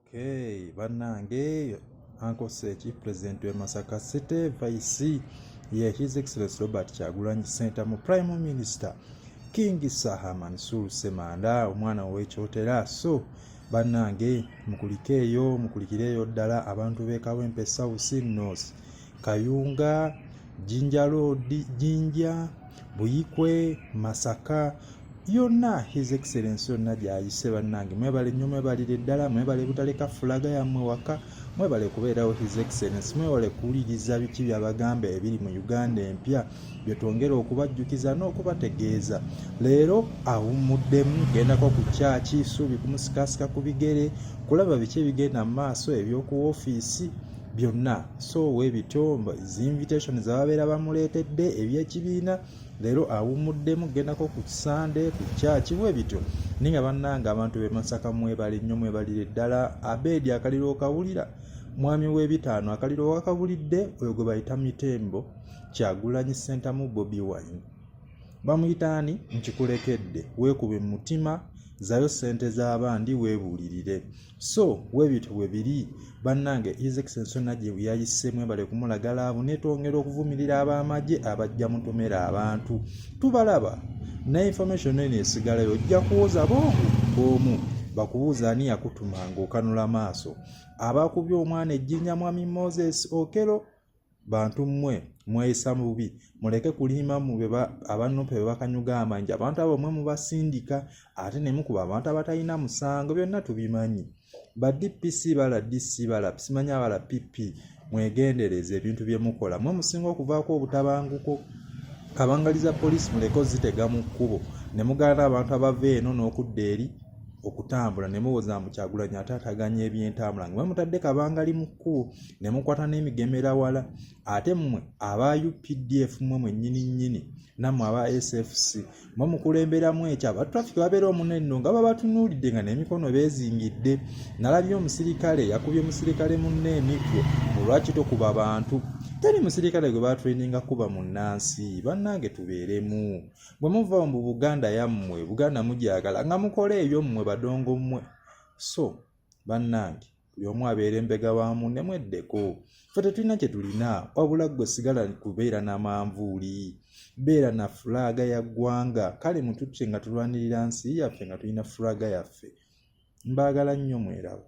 Okay, banange Uncle Seki, President wa Masaka City, Vice ye His Excellency Robert Kyagulanyi Ssentamu, Prime Minister King Saha Mansour Semanda, omwana w'ekyotera. So banange mukulikeeyo, mukulikireeyo ddala abantu b'e Kawempe South North. kayunga jinja roodi jinja buyikwe masaka yonna his excellence yonna gyayise bannange mwebale nnyo mwebalire ddala mwebale butaleka fulaga yammwe waka mwebale kubeerawo his excellence mwewale kuwuliriza biki byabagamba ebiri mu uganda empya byetwongera okubajjukiza n'okubategeeza leero awummuddemu gendako ku kyaki suubi kumusikasika ku bigere kulaba biki ebigenda mu maaso eby'oku ofiisi byonna so webityo zinvitation zababeera bamuleetedde ebyekibiina leero awummuddemu gendako ku kisande ku kyaki webityo naye nga bannanga abantu bemasaka mwebali nnyo mwebalire ddala abeedi akaliro okawulira mwami w'ebitaano akaliro wakabulidde oyo gwe bayita mitembo kyagulanyi sentamu bobi wine bamuyita ani nkikulekedde weekube mu mutima zayo ssente z'abandi weebuulirire so webityo webiri bannange his excellence yonna gye yayise mwebale kumulaga laavu netwongera okuvumirira ab'amagye abajja mutomera abantu tubalaba ne information eno esigalayo ojja kuwoza boomu boomu bakubuuza ani yakutuma ng'okanula maaso abakubye omwana ejjinja mwami moses okelo bantu mmwe mweyisa bubi muleke kulimba mu abannupe be bakanyuga amanyi abantu abo mwe mubasindika ate ne mukuba abantu abatalina musango byonna tubimanyi ba dpc bala dc bala simanyi abala pp mwegendereze ebintu bye mukola mwe musinga okuvaako obutabanguko kabangali za poliisi muleke ozitega mu kkubo ne mugaana abantu abava eno n'okudda eri okutambula ne muwoza mukyagulanyi ate ataganya ebyentambula nga mwe mutadde kabangali mu kkubo ne mukwata n'emigemera wala ate mmwe aba updf mmwe mwennyini nnyini nammwe aba sfc mwe mukulemberamu ekyo aba traffic babeera omunenno nga babatunuulidde nga n'emikono beezingidde nalabye omusirikale yakubye musirikale munne emiggo mulwaki tokuba bantu teri musirikale gwe batraininga kuba munnansi bannange tubeeremu bwe muva mu buganda yammwe buganda mugyagala nga mukola ebyo mmwe badongo mmwe so bannange buli omu abeere mbega wa munne mweddeko fe tetulina kye tulina wabula ggwe sigala kubeera na manvuuli beera na fulaaga ya ggwanga kale mututye nga tulwanirira nsi yaffe nga tulina fulaaga yaffe mbaagala nnyo mweraba